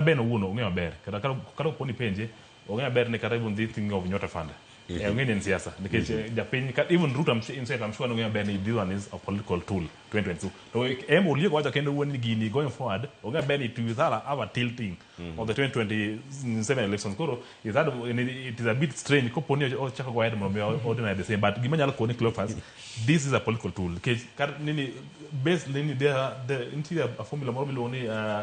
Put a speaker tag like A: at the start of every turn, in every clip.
A: Ben owuon ong'e maber kata kata kata opo ni penje ong'e maber ni kata even this thing of Nyota Fund eh, ong'e ni en siasa nikech eh, japiny ka- even Ruto I'm sure- in fact I'm sure ni ong'e maber ni this one is a political tool 2022 to em Oliego wacho kendo wuon ni gini going forward ong'e maber ni to Ithara have a tilting of the 2027 elections koro Ithara it is a bit strange kopo ni ochako go ahead mondo mi ordinary the same but gima nyalo koni Cleophas this is a political tool nikech kar nini base nini there there nitie a formula moro miluongo ni uh,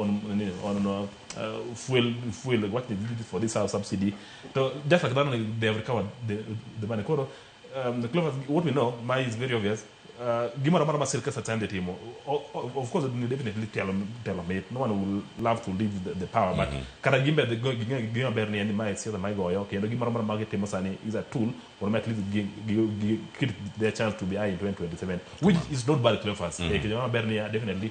A: on on uh, fuel fuel what they did for this house subsidy so just like that they have recovered the, the money koro um, the clever what we know my is very obvious uh, gimoro amora ma sirkal satande timo O- o- of course they definitely tell tell them it no one will love to leave the, the power but kata gimbe the go- ging'e gima ber ni en ni mae siasa ma igoyo kendo gimoro amora ma gitimo sani is a tool or at least gi- gi- gi- keep their chance to be high in 2027 which is not bad clever mm -hmm. kendo gima ber ni uh, definitely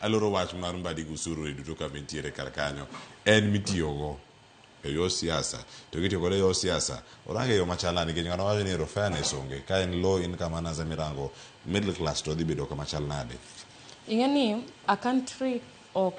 B: Aloro wach mar mbadi gi usururi duto kama intiere kar kanyo en mitiyogo e yor siasa to kitiyo kode e yor siasa orange yo machal nade nikech ng'ano wacho ni ero fairness onge ka en low income earners ema irango middle class to dhi bedo
C: kama chal
B: nade Ing'e ni
C: a
B: country ok